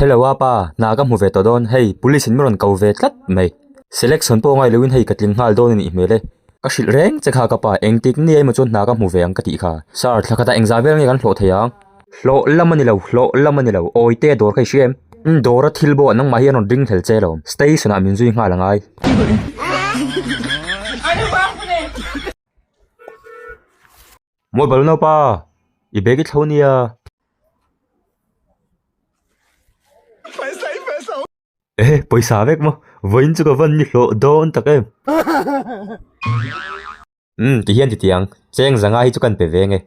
Hello a pa, hna ka hmu ve tawh dawn, hei police in min rawn ko ve tlat mai. Selection pawh a ngai loin hei ka tling nghal dawn a nih hmel e. Ka hrilh reng che kha ka pa, engtik nge emaw chuan hna ka hmu ve ang ka tih kha. Sir, thlakhat ah engzah vel nge kan hlawh thei ang? Hlawh lam a ni lo, hlawh lam a ni lo, awi te dawr kha i hria em? Umm dawr a thil bo a, nangmah hi an rawn ring thel che lo. Station ah min zui nghal a ngai. Mawi bal nau pa, i bag i thlo nia. Ehe pawisa vek maw, vawiin chu ka van ni hlawh dawn tak em. Umm ti hian ti ti ang, cheng zanga hi chu kan pe ve nge.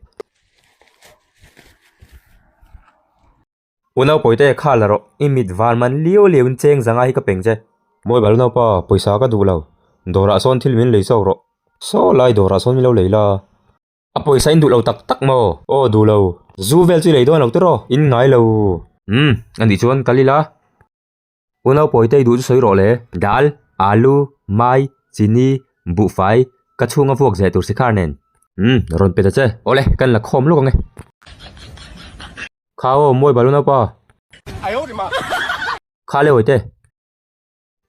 U Naupawi te, kha la rawh, i mit van man lio lio in cheng zanga hi ka peng che. Mawi bal naupa, pawisa ka duh lo, dawrah sawn thil min lei chauh rawh, saw lai dawrah sawn min lo lei la. A pawisa in duh lo tak tak maw? Aw duh lo. Zu vel chu i lei dawn lo tiraw, in ngai lo. Umm, anih chuan kal ila. U Naupawi tei duh chu sawi rawh le. Dal, alu, mai, chini, buhfai, ka chhung a vuak zeh tur si kha nen. Umm, rawn pe ta che. Awle, kan la khawm lawk ang e. Kha aw, muaiba lu naupa. Kha le awite.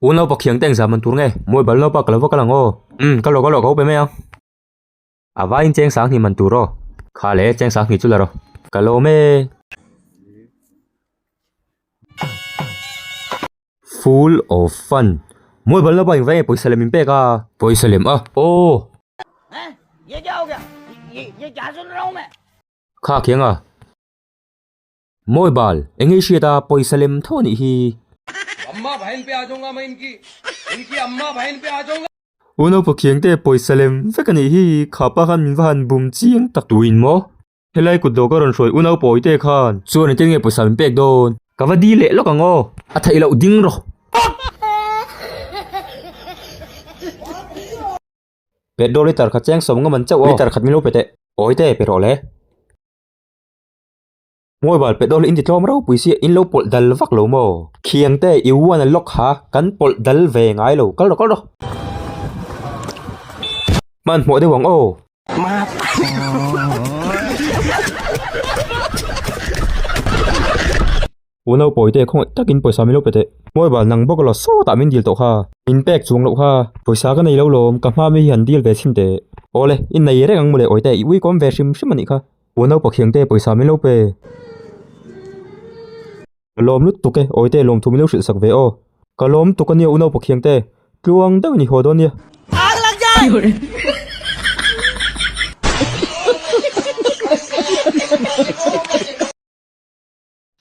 U Naupa khiangte engzah man tur nge? Muaiba lu naupa ka lo va kal ang aw. Umm, kal rawh kal rawh, ka upe mai ang. A vaiin cheng sang hnih man tur aw. Kha le, cheng sang hnih chu la rawh. Ka lawm e. Full of fun. Mawi balh lova engvai nge pawisa lem in pek a? Pawisa lem a aw. Kha kianga. Mawi bal, eng nge i hriat a, pawisa lem tho a nih hi. U Naupa Khiangte, pawisa lem vek a nih hi, kha pa khan min va han bum chiang tak tuin maw? Helai kut dawh ka rawn hruai U Naupa Awite khan. Chuan engtin nge pawisa min pek dawn? Ka va di leh lawk ang aw. A theih loh ding rawh. Pet dawr hi tarkhat chiang sawm ngam an chauh aw. Ni tarkhat min lo pe teh. Awite, pe rawh le. Mobile pe dawl in ti tlawm ropui sia in lo pawlh dal vak lo maw? Khiang te i uan a lock ha kan pawlh dal ve ngai lo kal rawh kal rawh. Hman hmawh deuh ang aw. U Naupawi te khawngaih takin pawisa min lo pe teh. Mobile nang bawk a law sawtah min deal tawh kha. Min pek chuang loh kha. Pawisa ka nei lo lawm, ka hmaa mi hi han deal ve chhin teh. Awle, i nei reng ang mawle Awite, i uikawm ve hrim hrim a nih kha. U Naupa khiang te pawisa min lo pe. Ka lawm lut tuk e, Awite lawm thu min lo hrilhsak ve aw. Ka lawm tuk a nia U Naupa khiang te, tluang deuh i ni haw dawn nia. Aa ka lakjai!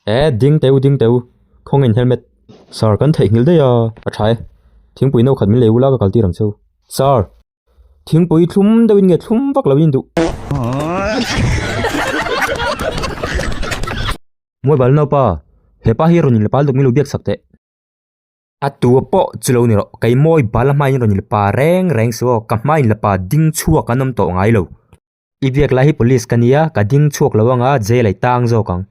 Ee ding teu ding teu khawngin helmet sir kan theih nghil daih a a tha e thingpui no khat min lei ula ka kal tir ang cheu sir thingpui thlum deuhin nge thlum vak lo in duh Mawi bal nau pa he pa hi rawn in la pal deuh min lo biak chak teh a tua pawh chu lo ni rawh kei mawi bal a hmain rawn in la pa reng reng chu aw ka hmain la pa ding chhuak an awm tawh ngai lo. I biak lai hi police ka nia, ka ding chhuak lo anga jail a i tang zawk ang.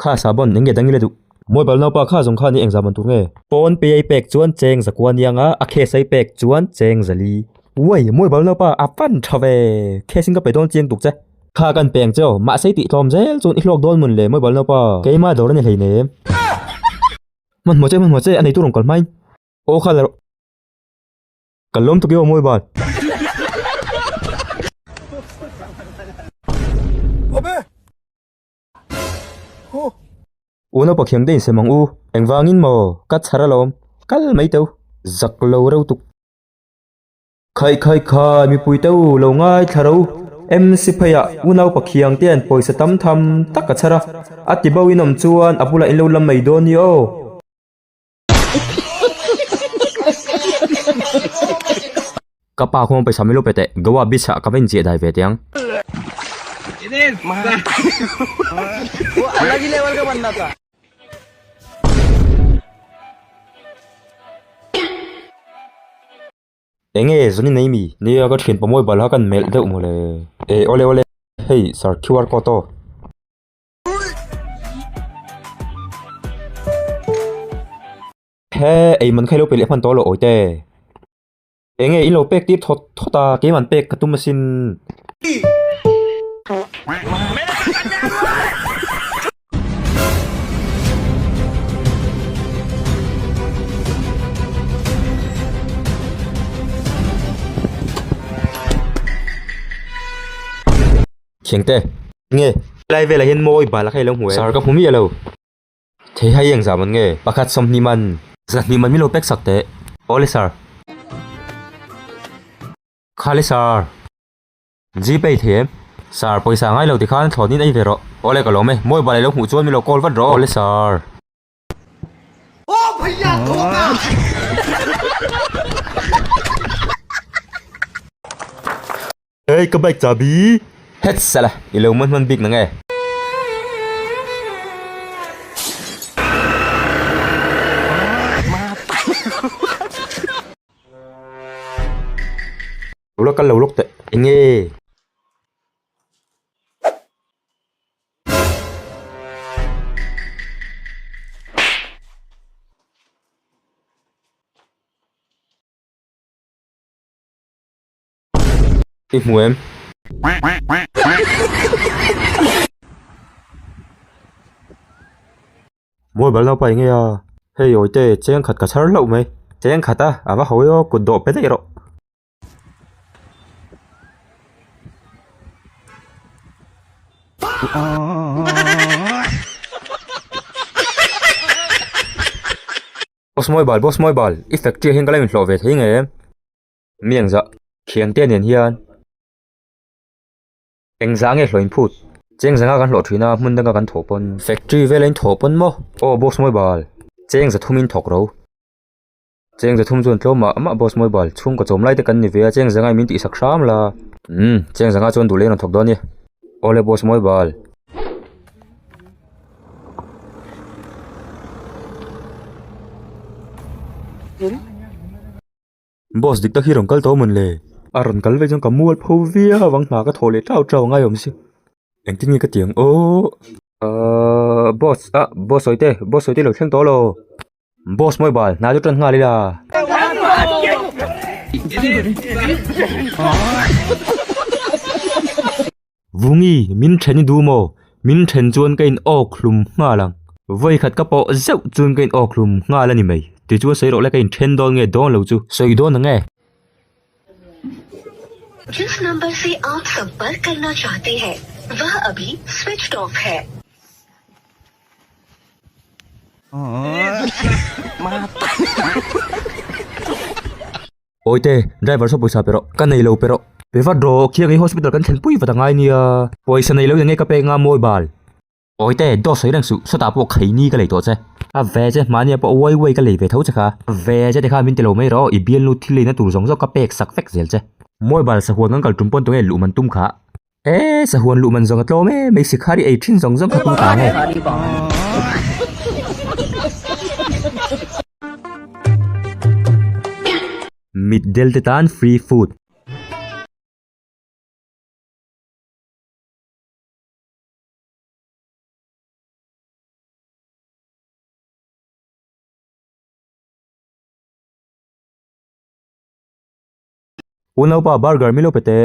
Kha Sabon eng nge dangin a duh? Mobile naupa kha zawng khan i engzah ban tur nge? Pawn pei a i pek chuan cheng zakua aniang a, a cash a i pek chuan cheng zali. Uai, mobile naupa a fan tha ve, cash in ka pe dawn chiang tuk che. Kha kan peng che aw, mahse i tih tlawm zel chuan i hlawk dawn mun le mobile naupa, keimah dawr a ni hleinem. Hmanhmawh che, hmanhmawh che, a neitu rawn kal hmain. Aw kha la rawh. Kal lawm tuk i aw mawi vat. Awme! Hu! U Naupa Khiang te insem ang u. Engvangin maw ka chhar alawm kal mai teuh. Zak lo reutuk. Khai khai khai, mipui te u lo ngai thla ro. MC pheiah u naupa khiang te hian pawisa tam tham tak a chhar a, a ti bauhin awm chuan a bulah in lo la mai dawn ni aw. Ka pa khawngawn paisa min lo pe teh, Goa beach ah ka va inziah dai ve teh ang. Enge zuni nei mi? Nia ka thian pawmawi balha kan melh deuh maw le? Eh awle awle, hei sir QR code aw. He ei man kha i lo pe leh hman tawh lo awite. Enge i lo pek tir thawt thawt a, kei man pek ka tum asin. thiang te nge lai vela hian mawi bal kha ilo hmu e sir ka hmu miah lo thei hai eng zam an nge pakhat sawmhnih man zahnih man milo pek sak teh awle sir khale sir Gpay thei em? Sir pawisa ngai lo ti khan thlawt in ei ve rawh. Awle ka lawm e, mobile a lo hmuh chuan min lo call vat rawh. Awle sir. Aw bhaiya thawk a. Hei ka bike chabi. Hets sala i lo hman hman bik nang e. Ula kal lo lawk teh enge? I hmu em? Mawi bal nau pai nge a, hei awite cheng khat ka chhar hlauh mai. Cheng khat a, a va hawi aw, kut dawh pe daih rawh. Boss mawi bal, boss mawi bal, i factory hian ka la in hlawh ve thei nge em? Miangzah, thiante nen hian. Eng zah nge hlawin phut. Cheng zanga kan hlawh thin a hmun danga kan thawh pawn. Factory vela in thawh pawn maw. Aw boss mawi bal. Cheng za thumin thawk ro. Cheng za thum chuan tlawma amah boss mawi bal. Chhungkaw chawm lai te kan ni ve a cheng zanga i min tih sak hram la. Umm cheng zanga chuan duhlein rawn thawk dawn nia. Awle boss mawi bal. Boss dik tak hi rawn kal tawh a mun le. A rawn kal vek chuan ka mual pho viau ang hna ka thaw leh tlau tlau ang a awmzia engtin nge ka tiang aww ahh boss a boss sawite boss sawite lo thleng tawh a lo boss mobile hnai chu tan nghal ila ahh. Vungi, min then i duh maw? Min then chuan ka in awk hlum nghal ang. Vawi khat ka pawh zeuh chuan ka in awk hlum nghal a ni mai. Tichuan sawi rawh le ka in then dawn nge dawn lo chu. Sawi dawn ang e. Jis number se aap sampark karna chahte hain, vah abhi switched off hai. Mata. Awite, driver saw pawisa pe rawh. Ka nei lo pe rawh. Pe vat rawh, khiangin hospital kan thlen pui vat a ngai nia. Pawisa nei lo in enge ka pek nga mawi bal. Awite, dawt sawi reng suh, sawtah pawh khaini ka lei tawh che. A ve che, mahni ah pawh uai uai ka lei ve tho che kha. A ve che tikha min ti lo mai rawh, i bialnu thil leina tur zawng zawng ka pek sak vek zel che. Mawi bal, sahuan kan kal tum pawn tunge luh man tum kha. Eee sahuan luh man zonga tlawm em mai sikhari ei thin zawng zawng kha tum ta nge. Mit del te tan free food. Unaupa burger milo pe teh.